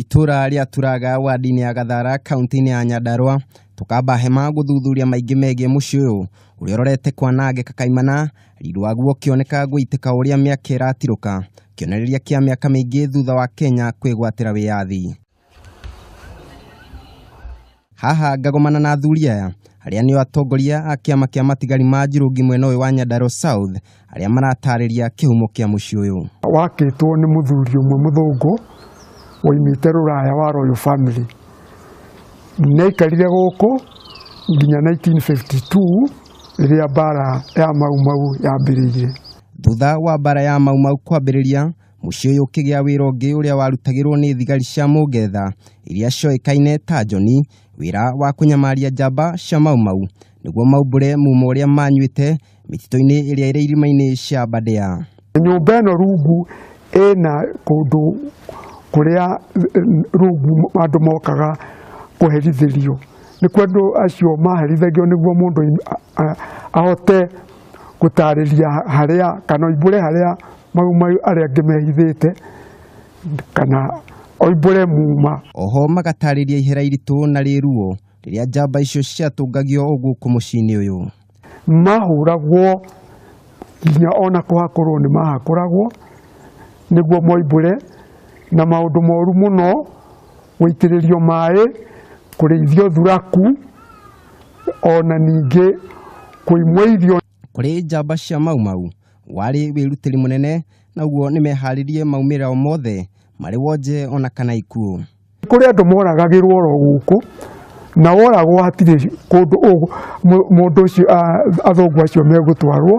itũra rĩa turaga wadi-inĩ ya gathara kaunti-inĩ ya nyandarũa tũkamba hema gũthuthuria maingĩ megiĩ mũciĩ ũyũ ũrĩa ũrorete kwanangĩka kaimana riri waguo ũkĩoneka gũitĩka ũrĩa mĩaka ĩratirũka kĩonereria kĩa mĩaka mĩingĩ thutha wa kenya kwĩgwatĩra wĩyathi haha ngagomana na athuri aya arĩa nĩo atongoria a kĩama kĩa matigari ma njirũngi mwena ũyũ wa Nyandarua South arĩa maratarĩria kĩhumo kĩa mũciĩ ũyũ. wakĩtwo nĩ mũthuri ũmwe mũthũngũ waimĩte rũraya wa Royal Family naikarire gũkũ nginya 1952 rĩrĩa mbara ya Mau Mau yambĩrĩirie. Thutha wa mbara ya Mau Mau kwambĩrĩria, Mũciĩ ũyũ ũkĩgĩa wĩra ũngĩ ũrĩa warutagĩrwo nĩ thigari cia Mũngetha iria cioĩkaine ta Njoni, wĩra wa kũnyamaria njamba cia Mau Mau nĩguo maumbũre mumo ũrĩa manyuĩte mĩtitũ-inĩ ĩrĩa ĩrĩ irima-inĩ cia Aberdare. Nyũmba ĩno rungu ĩna kũndũ kũrĩa rungu andũ mokaga kũherithĩrio, nĩkuo andũ acio maherithagio nĩguo mũndũ ahote gũtaarĩria harĩa kana oimbũre harĩa maumayu arĩa angĩ mehithĩte kana oimbũre muuma Oho magatarĩria ihera iritũ na rĩruo rĩrĩa njamba icio ciatũngagio o gũkũ mũciĩ-inĩ ũyũ. mahũragwo nginya ona kũhakũrwo nĩ mahakũragwo nĩguo moimbũre na maũndũ moru mũno gũitĩrĩrio maĩ kũrĩithio thuraku o na ningĩ kũimwo irio kũrĩ njamba cia mau mau warĩ wĩrutĩri mũnene naguo nĩ meharĩrie maumĩrĩra o mothe marĩ wonje ona kana ikuũ nĩ kũrĩ andũ moragagĩrwo oro gũkũ na woragwo hatirĩ kũndũ ũ- mũ- mũndũ ũcio a- athũngũ acio megũtwarwo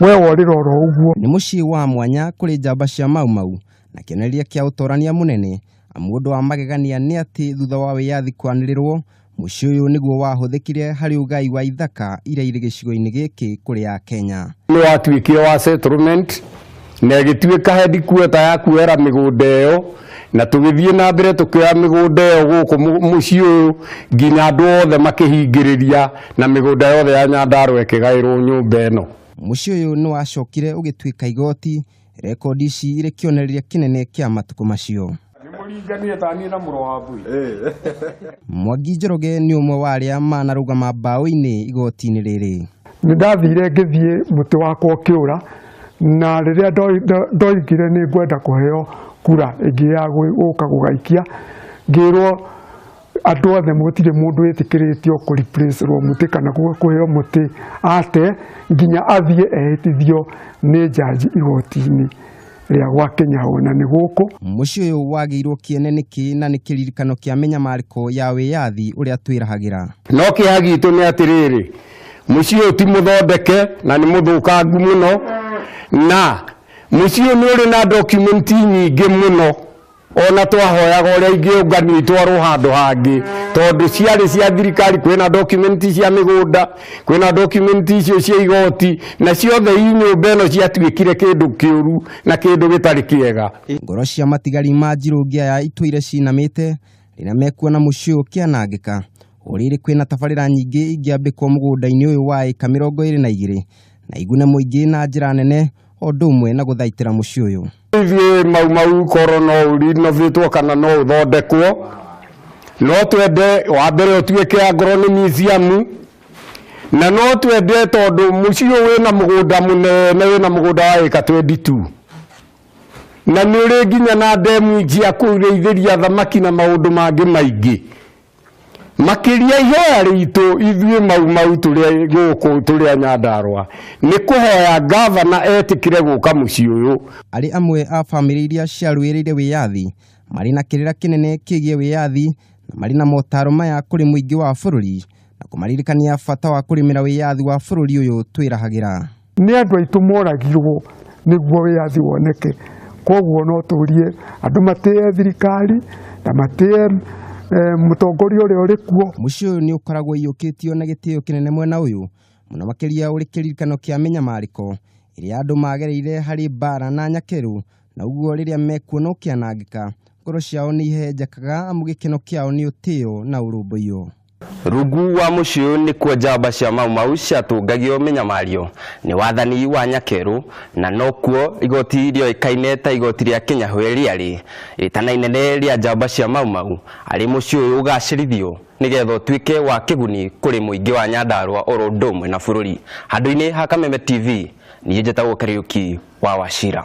we worĩra oro ũguo nĩ mũciĩ wa mwanya kũrĩ njamba cia mau mau na kĩonereria kĩa ũtorania mũnene Mũndũ wa magegania nĩ atĩ thutha wa wĩyathi kwanĩrĩrwo, mũciĩ ũyũ nĩguo wahũthĩkire harĩ ũgai wa ithaka iria irĩ gĩcigo-inĩ gĩkĩ kũrĩ Akenya. Nĩ watuĩkire wa settlement na ĩgĩtuĩka headquarter ya kuoera mĩgũnda ĩyo, na tũgĩthiĩ na mbere tũkĩoya mĩgũnda ĩyo gũkũ mũciĩ ũyũ nginya andũ othe makĩhingĩrĩria na mĩgũnda yothe ya Nyandarũa ĩkĩgaĩrwo nyũmba ĩno. Mũciĩ ũyũ nĩ wacokire ũgĩtuĩka igoti Rekondi ici irĩ kĩonereria kĩnene kĩa matukũ macio. Nĩmũringanire ta niĩ na mũrũ wa mbui. Mwangi Njoroge nĩ ũmwe wa arĩa manarũgama mbaũ-inĩ igoti-inĩ rĩrĩ. Nĩ ndathire ngĩthiĩ mũtĩ wakwa ũkĩũra, na rĩrĩa ndoi- ndo- ndoigire nĩ ngwenda kũheo kura ĩngĩ ya gwĩ- gũka gũgaikia, ngĩrwo andå othe må tirä må ndå wä tä kä rä tio kå replace rwo må tä kana kå heo må tä ate nginya athiä ehä tithio nä njanji igoti-inä rä a gwa kenya ona nä gå kå Mũciĩ ũyũ wagĩirwo kĩene nĩkĩ na nĩ kĩririkano kĩa mĩnyamarĩko ya wĩyathi ũrĩa twĩrahagĩra. no kĩeha gitũ nĩ atĩrĩrĩ mũciĩ ũyũ ti mũthondeke na nĩ mũthũkangu mũno na mũciĩ ũyũ nĩ ũrĩ na document nyingĩ mũno ona twahoyaga ũrĩa ingĩũnganio itwarwo handũ hangĩ tondũ ciarĩ cia thirikari kwĩna dokumenti cia mĩgũnda kwĩna dokumenti icio cia igoti na ciothe i nyũmba ĩno ciatuĩkire kĩndũ kĩũru na kĩndũ gĩtarĩ kĩega Ngoro cia matigari ma njirũ ngĩa ya itũire cinamĩte rĩrĩa mekuona mũciĩ ũyũ ũkĩanangĩka. Ũrĩrĩ kwĩna tabarĩra nyingĩ ingĩambĩkwo mũgũnda-inĩ ũyũ wa ĩka mĩrongo ĩrĩ na igĩrĩ na igune mũingĩ na njĩra nene o ũndũ ũmwe na gũthaitĩra mũciĩ ũyũ. ithuĩ mau mau korwo no ũrinovĩtwo kana no ũthondekwo no twende wa mbere ũtuĩke angorwo nĩ museum na no twende tondũ mũciĩ ũyũ wĩna mũgũnda mũnene wĩna mũgũnda wa ĩka 22 na nĩ ũrĩ nginya na ndemu ingĩ ya kũrĩithĩria thamaki na maũndũ mangĩ maingĩ Makĩria ihoya ritũ ithuĩ Mau Mau tũrĩ gũkũ tũrĩ a Nyandarua nĩ kũhoya ngavana etĩkĩre gũka mũciĩ ũyũ. Arĩ amwe a bamĩrĩ iria ciarũĩrĩire wĩyathi marĩ na kĩrĩra kĩnene kĩgiĩ wĩyathi na marĩ na motaro maya kũrĩ mũingĩ wa bũrũri na kũmaririkania bata wa kũrĩmĩra wĩyathi wa bũrũri ũyũ twĩrahagĩra. Nĩ andũ aitũ moragirwo nĩguo wĩyathi woneke. Koguo no tũrie andũ matĩe thirikari na matĩe eh, mũtongoria ũrĩa ũrĩ kuo. Mũciĩ ũyũ nĩ ũkoragwo ũiyũkĩtio na gĩtĩo kĩnene mwena ũyũ, mũno makĩria ũrĩ kĩririkano kĩa mĩnyamarĩko ĩrĩa andũ magereire harĩ mbaara na nyakerũ, na ũguo rĩrĩa mekuona ũkĩanangĩka, ngoro ciao nĩ ihehenjekaga amu gĩkeno kĩao nĩ ũtĩo na ũrũmbũiyo. Rungu wa mũciĩ ũyũ nĩkuo njamba cia Mau Mau ciatũngagio mĩnyamario nĩ wathani wa Nyakerũ, na nokuo igoti rĩoĩkaine ta igoti rĩa Kĩnyahwe rĩarĩ. Rĩtana inene rĩa njamba cia Mau Mau arĩ mũciĩ ũyũ ũgacĩrithio nĩgetha ũtuĩke wa kĩguni kũrĩ mũingĩ wa Nyandarũa oro ũndũ ũmwe na bũrũri. Handũ-inĩ ha Kameme TV, niĩ njĩtagwo Kariũki wa Wachira.